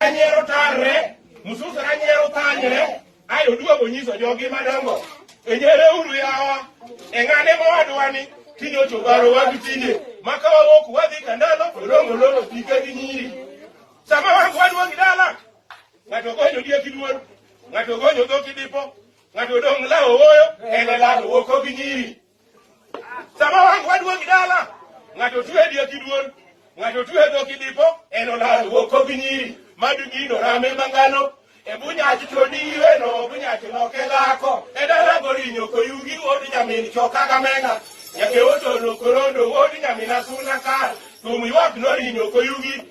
Ranyiero tarre, Musus ranyiero thanyre, ae oduogo nyiso jogi madongo. Enyere uru yawa, eng'ane mowadwani, tinde ochobaro wadu tinde, maka wawok wadhi kandalo, odongo lolo pike gi nyiri. Sama wangu waduogi dala, ng'ato gonyo diek iduol, ng'ato gonyo dhok idipo, ng'ato dong' lawo woyo, en e lado woko gi nyiri. Sama wang' waduong' dala, ng'ato tue e diek iduon, ng'ato tue e dhok idipo, en olal wuoko gi nyiri, madu gino rame mangano, e bunyachi to ni iweno, bunyachi loke dhako, e dala gorinyo koyugi wuod nyamin choka gamena, nyake otono korondo wuod nyamin asuna kar, thum ywak norinyo koyugi,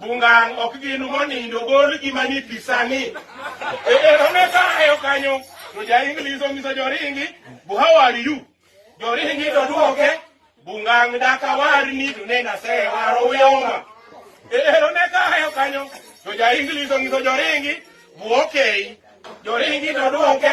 Bungang ok gin monindo gol gima ni pisani. E ero ne ka ayo kanyo to ja English onyiso joringi bu how are you? Joringi to duoke bungang daka warni to ne nase waro uyoma. E ero ne ka ayo kanyo to ja English onyiso joringi bu okay. Joringi to duoke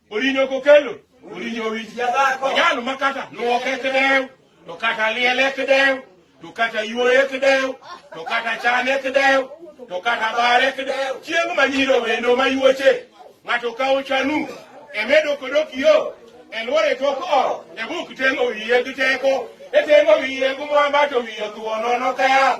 Orinyo kokelo, orinyo wich jadhako. Jal ma kata luoke kidew, to kata liele kidew, to kata yuoye kidew, to kata chane kidew, to kata bare kidew. Chieng' ma nyiro wendo ma yuoche, ng'ato kawo chanu, emedo kodok yo, elwore tok o, ebuk teng'o wiye gi teko, eteng'o wiye gi mwamba to wiye thuo nono kaya.